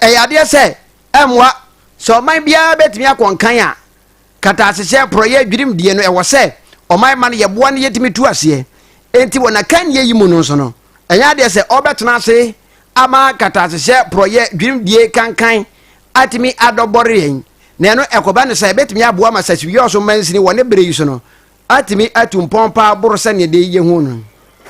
Ɛyɛ adeɛ sɛ ɛmmoa sɛ ɔman biara bɛtumi akɔ nkan a kataasehyeɛ, porɔeɛ, dwirim deɛ no ɛwɔ sɛ ɔman ma no yɛboa no yɛtumi tu aseɛ. Enti wɔ n'akannie yi mu no nso no, ɛnyɛ adeɛ sɛ ɔbɛtena ase ama kataasehyeɛ, porɔeɛ, dwirim die kankan atumi adɔ bɔre yɛn, na ɛno ɛkɔba no sɛ ɛbɛtumi aboa ma Sasiwi Ɔso Mansini wɔ ne berɛ yi so no atumi atu mpɔn paa boro sɛnea dee yehu no.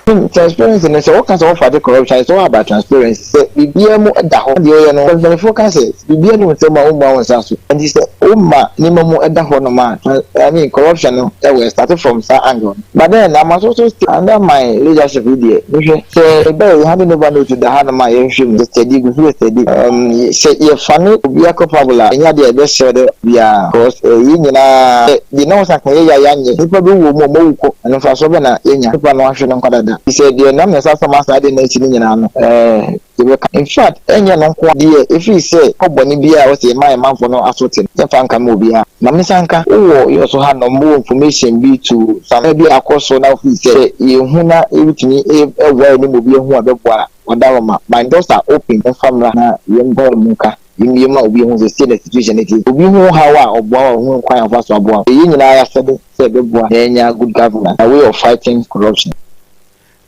Tim, transparency no, sɛ woka sɛ wɔmfate corruption a, it's all about transparency. Sɛ biribiara mu da hɔ na deɛ woyɛ no, because mpanimfoɔ ka sɛ, sɛ biribiara nni wo nsam a, wommua wo nsa so. Ɛnti sɛ woma nneɛma mu da hɔnom a, trans, I mean, corruption no will start from saa angle no. But then, na ama so so still, under my leadership yi deɛ, mehwɛ, sɛ ɛba yɛ handing over note da hanom a, yɛnhwɛ mu, yɛ study, yɛgu so yɛ study. Um, sɛ yɛfane obiara culpable a, ɛnyɛ adeɛ a yɛbɛsrɛ dɛ obiara, because eh, yɛn nyinaa, sɛ Deɛ na wɔsan ka yɛ yɛ a yɛanyɛ, nnipa bi wɔ mu a wɔawu kɔ, ɛno mfasoɔ bɛn na yɛanya? Nnipa no ahwe no nkwa dada. Te sɛ deɛ nam ne nsa so ama saa adeɛ no asi no nyinaa no, ɛɛ, yɛbɛka. In fact, ɛnyɛ ɛno nko ara deɛ, ɛfiri sɛ pɔ bɔne biara a wɔsi ɛma yɛn manfoɔ no aso te no, yɛmfa nkame obiara. Ma mensa nka. Wowɔ yɛn so hanom, mowɔ information bi to some bi a akɔ so na wofii sɛ sɛ yɛhu na yɛbɛtumi ɛboa yɛne mu bi ahu a ɛbɛboa a, wɔda hɔ ma. My doors are open, momfa mmra na yɛmpae mu nka. Wimbie ma obi hu sesei na situation no tse. Obi hu haw a ɔboa wo a ohun kwan a ɔfa so aboa wo. Eyɛ yɛn nyinaa ayasɛde sɛ yɛbɛboa na yɛanya good governance na way of fighting corruption.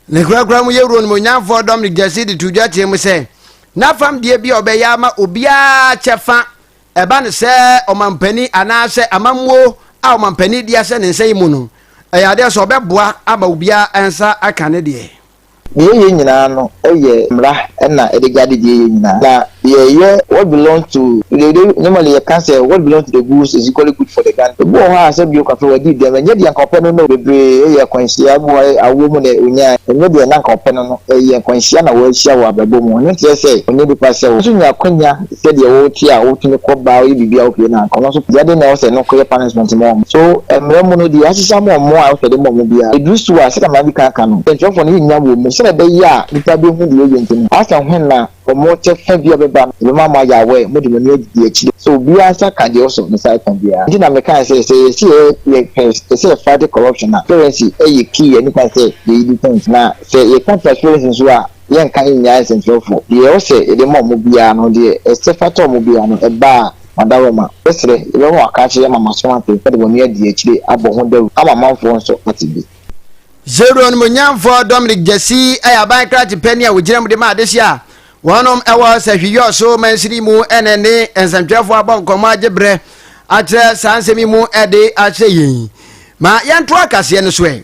Ne korakora mu yɛwura onimuonyamfoɔ Dominic Gyasi de too dwa teɛm sɛ, N'afam deɛ bi a ɔbɛyɛ ama obiara kyɛfa ɛba no sɛ ɔmampanin anaasɛ amammuo a ɔmampanin di ahyɛ ne nsa yi mu no, ɛyɛ adeɛ sɛ ɔbɛboa ama obiara nsa aka ne deɛ. Deɛ yɛyɛ nyinaa no yɛ mmra na ɛde guide deɛ yɛyɛ nyinaa na deɛ ɛyɛ what belongs to the the normally yɛka sɛ what belongs to the goose is equally good for the gander ebi wɔ hɔ a sɛ bio kafra wadi dɛm ɛnyɛ deɛ nka ɔpɛ no no bebree yɛ akwanhyia ebi wɔ hɔ a awoɔ mu na ɔnyae ɛnyɛ deɛ na nka ɔpɛ no no ɛyɛ akwanhyia na wahyia wɔ abrabɔ mu ɛno nkyerɛ sɛ ɔnyɛ nipa sɛ wo nso nya akwanya sɛdeɛ wo te a wo tumi kɔ baa wo yɛ biribi a wo pie na kɔ nanso pia den na ɛwɔ sɛ ɛno kɔ yɛ punishment ma wɔn so ɛmmerɛ mu no deɛ yɛahyehyɛ ama wɔn a ɛwɔ sɛ yɛde ma wɔn biara ɛduru so a sɛdeɛ madi kan aka no ntwerɛfoɔ no yɛ nnya wɔ mu sɛdeɛ ɛbɛyɛ a nnipa bɛhu deɛ ɛyɛ nti no asɛ hwan na wɔn kyɛ fɛ bi a ɛbɛba no ɛbɛma mo ayɛ aware mode mo ani adidi akyire so obiara nsa ka deɛ ɔsɔ ne nsa ɛka biara nti na mekae sɛ sɛ yɛsi yɛ yɛ pɛ sɛ yɛ fight corruption a transparency ɛyɛ key ɛne kwan sɛ yɛyi defense na sɛ yɛka transparency nso a. yɛnka nnyae nsɛnkyerɛwfo. Deɛ ɛwɔ sɛ yɛde ma wɔn biara no, deɛ ɛsɛ fata wɔn biara no, ɛba a, wɔadawɔma. Mɛsrɛ, yɛbɛma wɔaka akyerɛ yɛn ama moasom ate, na de mo ani adi akyire abɔ ho dawuro ama amanfoɔ nso ate bi. Zero-Animuonyamfoɔ Dominic Gyasi yɛ aban krakye panin a ɔgyina mu de ma adehyeɛ a wɔn wɔ Sahwi-Yoo so mansini yi mu ɛne ne nsɛnkyerɛfoɔ abɔ nkɔmmɔ agye berɛ akyerɛ saa nsɛm yi mu de akyerɛ yɛn yi. Ma yɛntoa kaseɛ no so ɛ.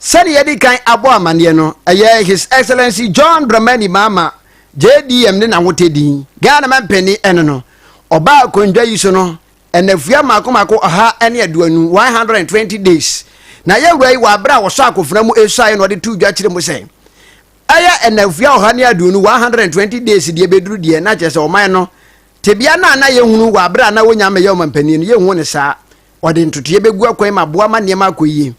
Sɛdeɛ yɛadi kan abɔ amaneɛ no, ɛyɛ His Excellency John Dramani Mahama, JDM, ne n'awotɛ din, Ghana Mampanin, ɛne no ɔbaa akondwa yi so no nnafua mmaako mmaako ɔha ne aduonu, 120 days, na yɛwura yi wɔ aberɛ a wɔsɔ akofena mu suaeɛ na ɔde too dwa kyerɛ mu sɛ ɛyɛ nnafua ɔha ne aduonu, 120 days, deɛ ɛbɛduru deɛ na kyerɛ sɛ ɔman no tebea no a na yɛhunu wɔ aberɛ a na wɔnya mmɛyɛ ɔmampanin no yɛnhu ne saa. wɔde ntotoeɛ bɛgu akwan ma aboa ma nneɛma akɔ yie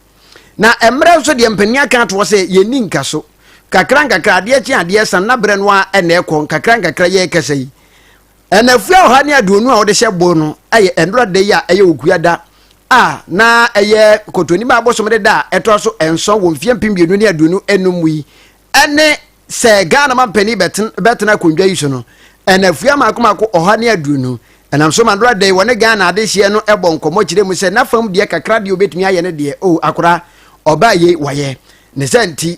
na mmerɛ nso deɛ mpanin aka ato hɔ sɛ yɛnni nka so kakra nkakra adeɛ kye adeɛ san na berɛ no a ɛna ɛkɔ nkakra nkakra yɛ ɛkasa yi ɛna fua ɔha ne aduonu a wɔde hyɛ boo no ɛyɛ ɛnora da yi a ɛyɛ okua da a na ɛyɛ kɔtɔnim a abosom de da a ɛtoa so nson wɔ mfeɛ mpem mmienu ne aduonu enum mu yi ne sɛ Ghana mampanin bɛtena akonnwa yi so no, anafua mako mako ɔha ne aduonu. Ɛnam so ma Dora Day wɔ ne Ghana adehyeɛ no bɔ nkɔmmɔ kyerɛ mu sɛ n'afam deɛ kakra deɛ ɔbɛtumi ayɛ ne deɛ, oh akora, ɔbaa yei wayɛ. Ne saa nti,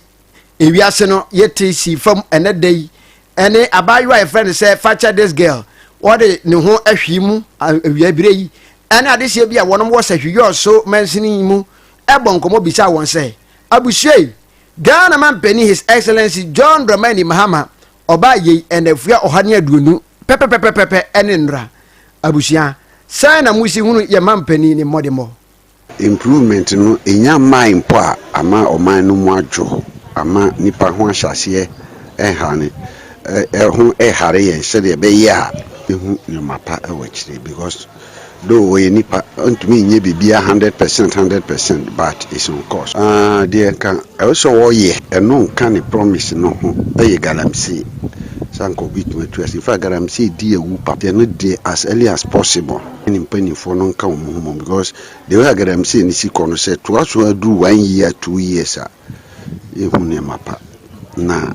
ewiase no yɛte sii fam ɛnɛ da yi ne abaayewa a yɛfrɛ no sɛ Fakyɛ This Girl, ɔde ne ho ahwii mu awia berɛ yi ne adehyeɛ bi a wɔnom wɔ Sahwiyɔɔ so mansini mu bɔ nkɔmmɔ bisaa wɔn sɛ, Abusua yi, Ghana Mampanin His Excellency John Dramani Mahama ɔbaa yei nnafua ɔha ne aduonu pɛpɛpɛpɛpɛpɛ ne nnora. Abusua, sɛn na mosi hunu yɛn Mampanin ne mmɔdemmɔ? Improvement no nnya mmae mpo a ama ɔman no mu adwo, ama nnipa ho ahyɛaseɛ ɛhane ɛho ɛhare yɛn sɛdeɛ ɛbɛyɛ a yɛbɛhu nneɛma pa wɔ akyire because. Though ɔyɛ nipa ɔntumi nyɛ biribiara hundred percent hundred percent but is on course. Ah deɛ nka ɛwɔ sɛ ɔyɛ ɛno nka ne promise no ho ɛyɛ galamsee sɛ anka obi tumi atu ase in fact galamsee di awu papa nti ɛno deɛ as early as possible ne ne mpaninfoɔ no nka wɔn ho mmom because the way a galamsee no si kɔ no sɛ ɛtoa so ara duru one year two years a yɛhu nneɛma pa, na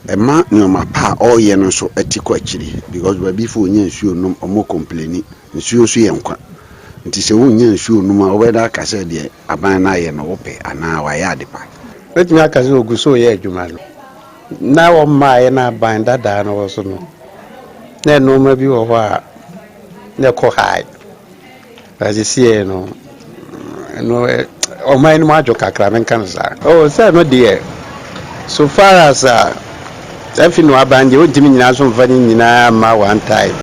ɛma nneɛma pa a ɔreyɛ no nso ti kɔ akyiri because Baabifoɔ wɔnnya nsuo nnom, wɔkɔmpleni. Nsuo nso yɛ nkwa. Nti sɛ wonnya nsuo nnom a, wobɛda aka sɛ deɛ aban no ayɛ no wopɛ anaa wayɛ ade pa. Wobɛtumi aka sɛ ɔgu so reyɛ adwuma no. Na wɔmmaeɛ no aban dadaa no wɔ so no, na nneɛma bi wɔ hɔ a na ɛkɔ high. Sesei no no ɔman no mu adwo kakra menka no saa. Oh sɛ no deɛ so far as a afi no aban deɛ wontumi nyina so mfa no nyinaa mma one time.